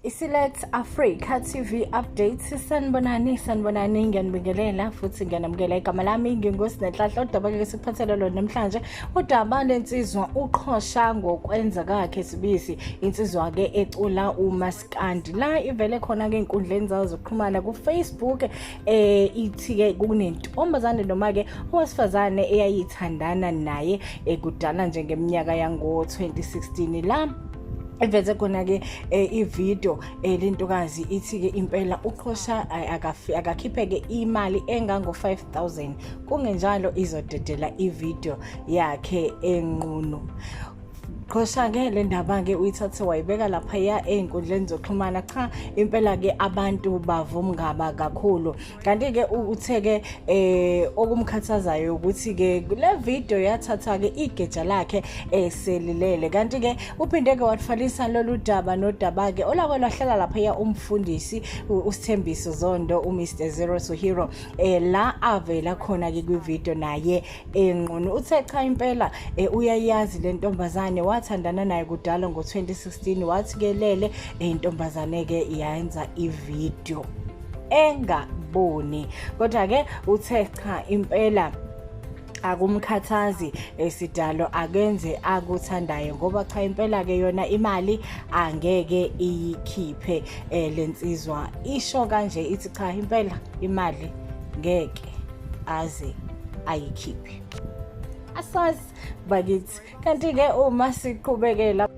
isilet africa tv update sanibonani sanibonani ngiyanibingelela futhi ngiyanamukela igama lami ngingosi nenhlahla udaba ke sikuphathele lona namhlanje udaba lensizwa uqhosha ngokwenza kakhe sibisi insizwa ke ecula umaskandi la ivele khona ke inkundleni zawo zokuxhumana kufacebook eh ithi-ke kunentombazane noma-ke owesifazane eyayithandana naye ekudala eh, njengeminyaka yango-2016 la eveze khona-ke eh, ividiyo eh, lentokazi ithi-ke impela uqhosha eh, akakhiphe-ke imali engango-five thousand kungenjalo izodedela ividiyo yakhe enqunu Qhoshakele ndaba-ke uyithathe wayibeka laphaya ey'nkundleni zokuxhumana cha impela-ke abantu bavumngaba kakhulu kanti-ke uthe-ke eh okumkhathazayo ukuthi-ke le video yathatha-ke igeja lakhe eselilele eh, kanti-ke uphinde-ke wathwalisa lolu daba nodaba-ke olako lwahlala laphaya umfundisi usithembiso zondo umr zero to hero um la avela khona-ke kwividiyo naye enqunu uthe cha impela eh, uyayazi le ntombazane wathandana naye kudala ngo-2016 wathi kelele eh, intombazane-ke yayenza ividiyo engaboni kodwa-ke uthe cha impela akumkhathazi esidalo eh, akenze akuthandayo ngoba cha impela ke yona imali angeke iyikhiphe eh, lensizwa isho kanje ithi cha impela imali ngeke aze ayikhiphe asazi bakithi kanti-ke uma siqhubekela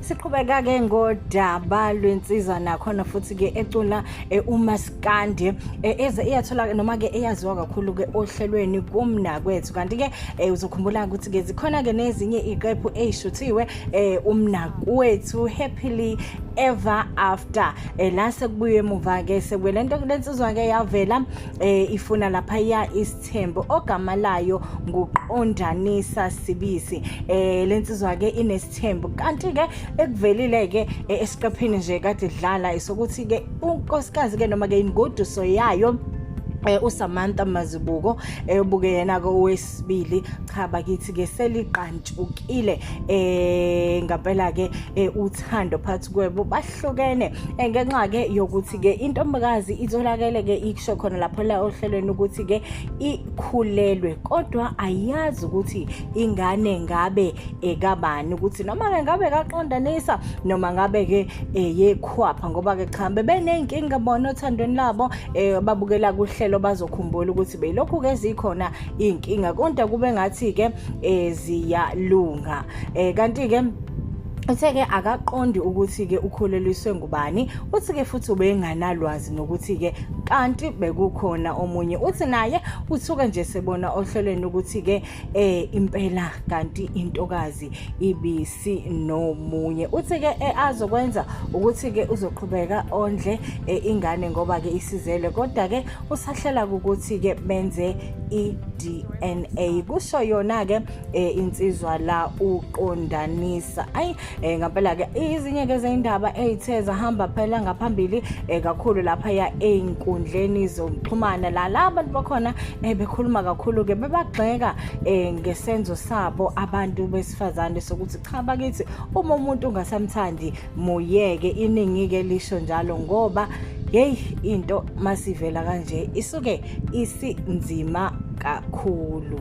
siqhubeka-ke ngodaba lwensizwa nakhona futhi-ke ecula e, umaskandi e, eze iyathola noma-ke eyaziwa kakhulu-ke ohlelweni kumnakwethu kanti-ke e, uzokhumbula ukuthi-ke zikhona-ke nezinye iqephu eyishuthiwe umnakwethu happily ever after la sekubuye emuva-ke sekwele nto kulensizwa-ke yavela eh ifuna lapha ya isithembu ogama layo nguqondanisa sibisi eh lensizwa ke inesithembu kanti ke ekuvelile ke eh, esiqephini nje kade dlala isokuthi ke unkosikazi ke noma ke ingoduso yayo eh uSamantha Mazibuko eyobuke eh, yena ke owesibili cha bakithi ke seliqantshukile eh ngampela ke eh, uthando phathi kwebo hlukene eh, ngenxa ke yokuthi ke intombakazi itholakele ke ikusho khona lapho la ohlelweni ukuthi ke ikhulelwe kodwa ayazi ukuthi ingane ngabe ekabani ukuthi noma ke ngabe kaqondanisa noma ngabe ke eh, yekhwapha ngoba ke cha bebeneyinkinga bona othandweni labo eh, babukela kuhlelo bazokhumbula ukuthi belokhu ke zikhona inkinga kodwa kube ngathi ke ziyalunga kanti ke Uthe-ke akaqondi ukuthi-ke ukholelwiswe ngubani, uthi-ke futhi ubenganalwazi nokuthi-ke kanti bekukhona omunye. Uthi naye uthuke nje sebona ohlelweni ukuthi-ke eh impela kanti intokazi ibisi nomunye. Uthi-ke eh, azokwenza ukuthi-ke uzoqhubeka ondle eh, ingane ngoba-ke isizelwe kodwa-ke usahlela ukuthi-ke benze i-DNA. Kusho yona-ke eh insizwa la uqondanisa ayi eh ngempela ke izinye ke zeindaba ezithe zahamba phela ngaphambili eh kakhulu lapha ya einkundleni zokuxhumana la laba bakhona eh bekhuluma kakhulu ke bebagxeka eh ngesenzo sabo abantu besifazane sokuthi cha bakithi uma umuntu ungasamthandi muyeke iningi ke lisho njalo ngoba hey into masivela kanje isuke isinzima kakhulu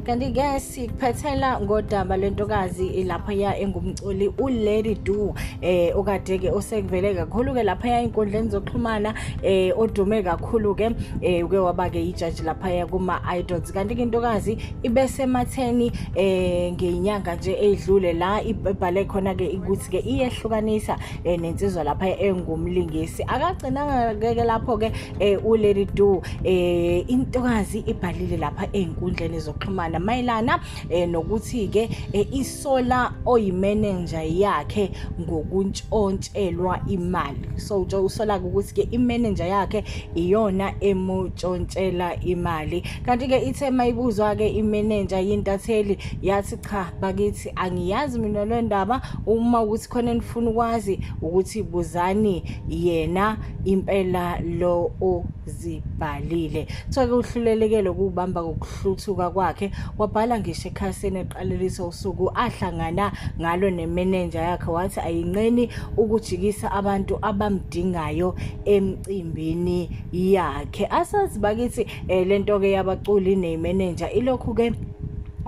kanti-ke sikuphethela ngodaba lwentokazi laphaya engumculi ulady do eh okade-ke osekuvele kakhulu-ke laphaya ey'nkundleni zokuxhumana eh odume kakhulu-ke eh uke waba-ke yijaji laphaya kuma-idols kanti-ke intokazi ibesematheni eh ngeyinyanga nje eyidlule la ibhale khona-ke ukuthi-ke iyehlukanisa eh, nensizwa lapha engumlingisi akagcinanga keke lapho ke eh, ulady do eh, intokazi ibhalile lapha ezinkundleni zokuxhumana mayelana eh, nokuthi ke eh, isola oyimenenja yakhe ngokuntshontshelwa imali so usola ukuthi ke imenenja yakhe iyona emutshontshela imali kanti-ke ithe mayibuzwa-ke imenenja yintatheli yathi cha bakithi angiyazi mina le ndaba uma ukuthi khona enifuna ukwazi ukuthi buzani yena impela lo ozibhalile kuthiwa-ke uhlulelekele ukuwubamba ngokuhluthuka kwakhe wabhala ngisho ekhasini eqalelisa usuku ahlangana ngalo nemenenja yakhe wathi ayinqeni ukujikisa abantu abamdingayo emcimbini yakhe asazi bakithi eh, lento ke yabaculi ne manager ilokhu ke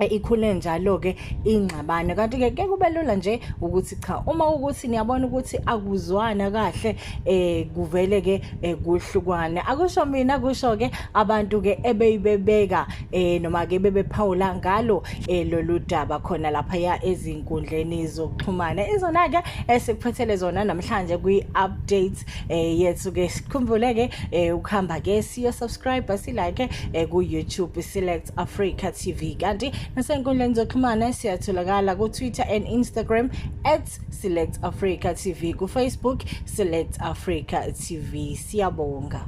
ikhule njalo ke ingxabano kanti ke ke kubelula nje ukuthi cha uma ukuthi niyabona ukuthi akuzwana kahle eh kuvele ke eh, kuhlukwane akusho mina kusho ke abantu ke ebeyibebeka eh noma ke bebephawula ngalo eh, lolu daba khona lapha ya ezinkundleni zokuxhumana izona ke esikuphethele zona namhlanje kwi update eh yethu ke sikhumbule ke eh ukuhamba ke siyo subscribe si like eh ku YouTube select Africa TV kanti nasenkundleni zokuxhumana siyatholakala ku Twitter and Instagram @selectafrica tv ku Facebook select Africa TV siyabonga